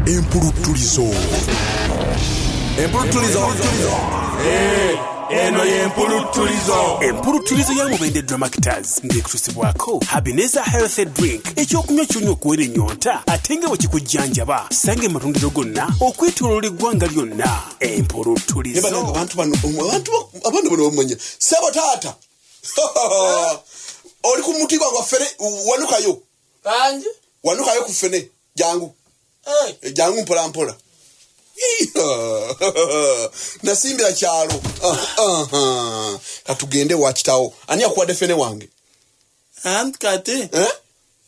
empuluttulizo empuluttulizo eh, eno yempuluttulizo empuluttulizo ya mubende dramactors ng'ekusibwako habineza healthy drink ekyokunywa kyonywa okuwera ennyonta ate nga bwe kikujjanjaba sanga ematundiro gonna okwetoloola eggwanga lyonna empuluttulizo abantu bano abantu abantu bano bamanya sebo taata oli ku mutima gwaffe wanukayo bangi wanukayo ku ffene jangu eh. Eh, jangu mpola mpola nasimbira kyalo katugende wakitawo ani akuwadde ffene wange anti kati eh?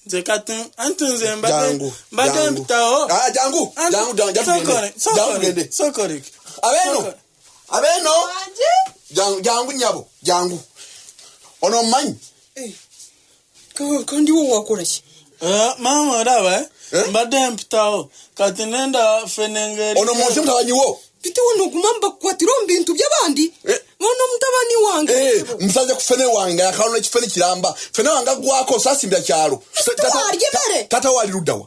nze kati anti nze mbadde mpitawo ah, jangu jangu jangu tugende abeno abeno jangu nyabo jangu ono mmanyi kandi wo wakora ki eh, mama olaba eh? eh? mbadde mpitawo kati nenda fenengeri ono munsi mutabanyi wo bitewe noguma mbakwatira mu bintu by'abandi eh. nono mutabani wange eh, musaze ku fene wange akalona ekifene kiramba fene wange agwako sasimbira kyalo tata wali luddawa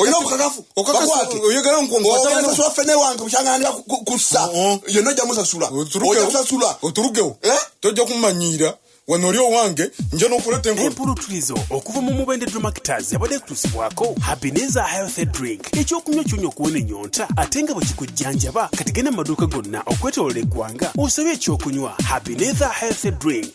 olina obukakafu oyogera nkuomusasula fene wange bukyangana kussa yonna ojja musasula ojja kusasula oturugewo eh? tojja kumanyiira wano oli owange nja nokuleta empuluturizo okuva mu mubende dromactors yabadde kutusibwako habineza health drink ekyokunywa kyonya okuwona enyonta ate nga bwekikujjanjaba kati genda mu maduuka gonna okwetolola eggwanga osabye ekyokunywa habineza health drink